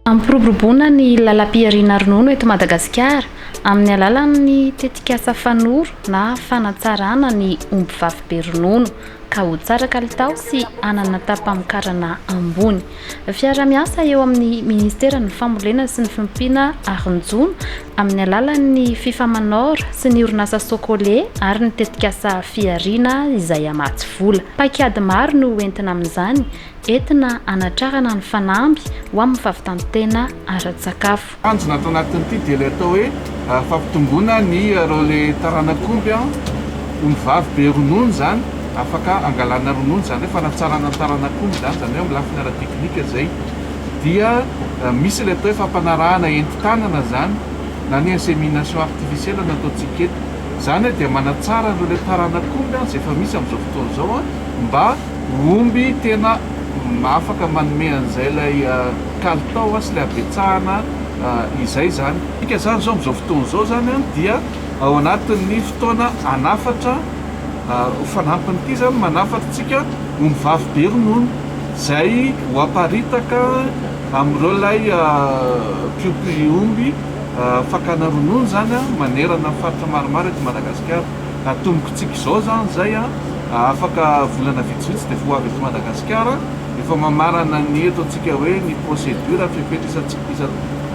Hampiroboroboana ny lalam-pihariana ronono eto Madagasikara amin'ny alalan'ny tetikasa Fanoro na fanatsarana ny ombivavy be ronono ka ho tsara kalitao sy hanana tapamokarana ambony. Fiarahamiasa eo amin'ny Ministeran'ny Fambolena sy ny Fiompiana ary ny Jono amin'ny alalan'ny Fifamanor sy ny orinasa Socole ary ny tetikasa Fihariana izay hamatsy vola. Paikady maro no hoentina amin'izany, entina hanatrarana ny fanamby ho amin'ny fahavitan-tena ara-tsakafo. Tanjona ato anatin'ity dia ilay atao hoe fampitomboana ny relais taranak'omby omby vavy be ronono izany afaka angalana ronono izany hoe fanatsarana ny taranak'omby izany izany hoe amin'ny lafiny ara-teknika izay dia misy ilay atao hoe fampanarahana entin-tanana izany na ny insémination artificielle no ataontsika eto izany dia manatsara ny relais taranak'omby izay efa misy amin'izao fotoana izao mba Omby tena afaka manome an'izay ilay kalitao sy ilay habetsahana izay izany. Midika izany izao amin'izao fotoana izao izany dia ao anatin'ny fotoana hanafatra ho fanampin'ity izany manafatra antsika ombivavy be ronono izay ho aparitaka amin'ireo ilay mpiompy omby fakana ronono izany manerana ny faritra maromaro eto Madagasikara. Atomboky tsika izao izany izay an! Afaka volana vitsivitsy dia voavy eto Madagasikara. Efa mamarana ny eto antsika hoe ny procédure fepetra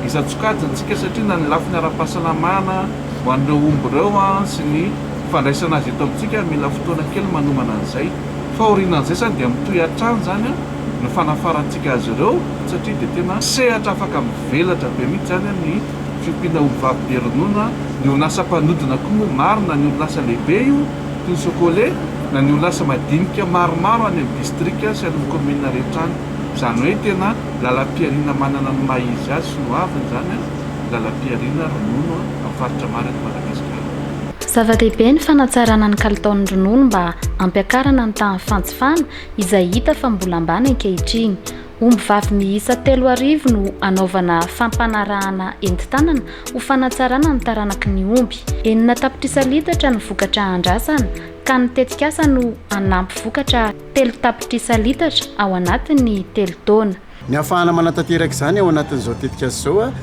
isan-tsokajiny tsika satria na ny lafiny ara-pahasalamana ho an'ireo omby ireo an! sy ny fandraisana azy eto amintsika mila fotoana kely manomana an'izay. Fahorianan'izay izany dia mitohy hatrany izany an! ny fanafarantsika azy ireo satria dia tena sehatra afaka mivelatra be mihitsy izany an! ny fiompiana olom-bavy be ronono, ny orinasa mpanodina koa moa maro na ny orinasa lehibe io toy ny Socole na ny orinasa madinika maromaro any amin'ny distrika sy any amin'ny kaominina rehetra any. Izany hoe tena lalam-pihariana manana ny maha izy azy sy ny hoaviny izany an, ny lalam-pihariana ronono amin'ny faritra maro eto Madagasikara. Zava-dehibe ny fanatsarana ny kalitaon'ny ronono mba hampiakarana ny tahan'ny fanjifana izay hita fa mbola ambany ankehitriny. Ombivavy miisa telo arivo no hanaovana fampanarahana entin-tanana ho fanatsarana ny taranaky ny omby. Enina tapitrisa litatra ny vokatra andrasana ka ny tetikasa no hanampy vokatra telo tapitrisa litatra ao anatin'ny telo taona. Ny hahafahana manatanteraka izany ao anatin'izao tetikasa izao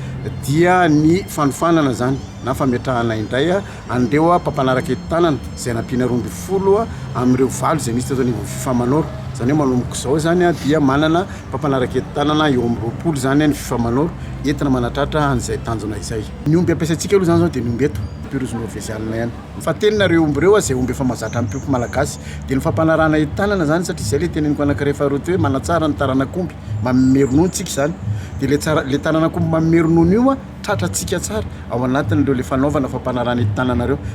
dia ny fanofanana izany na fametrahana indray. Andeho aho mpampanaraka eto tanana izay nampiana roa ambin'ny folo amin'ireo valo izay misy teto anivon'ny fifa manoro izany hoe manomboka izao izany dia manana mpampanaraka eto tanana eo amin'ny roapolo izany ny fifa manoro entina manatratra an'izay tanjona izay. Ny omby ampiasaintsika aloha izany izao dia ny omby eto Pyrus norvegiana ihany. Fahatenina ireo omby ireo izay omby efa mahazatra amim-piompy malagasy. Dia ny fampanarahana eto tanana izany satria izay ilay teneniko anankiray faharoa teo hoe manatsara ny taranak'omby. manome ronono antsika izany de le tsara le tanan'akoho manome ronono io a tratrantsika tsara ao anatin'ireo le fanaovana fampanarana ety tanana ireo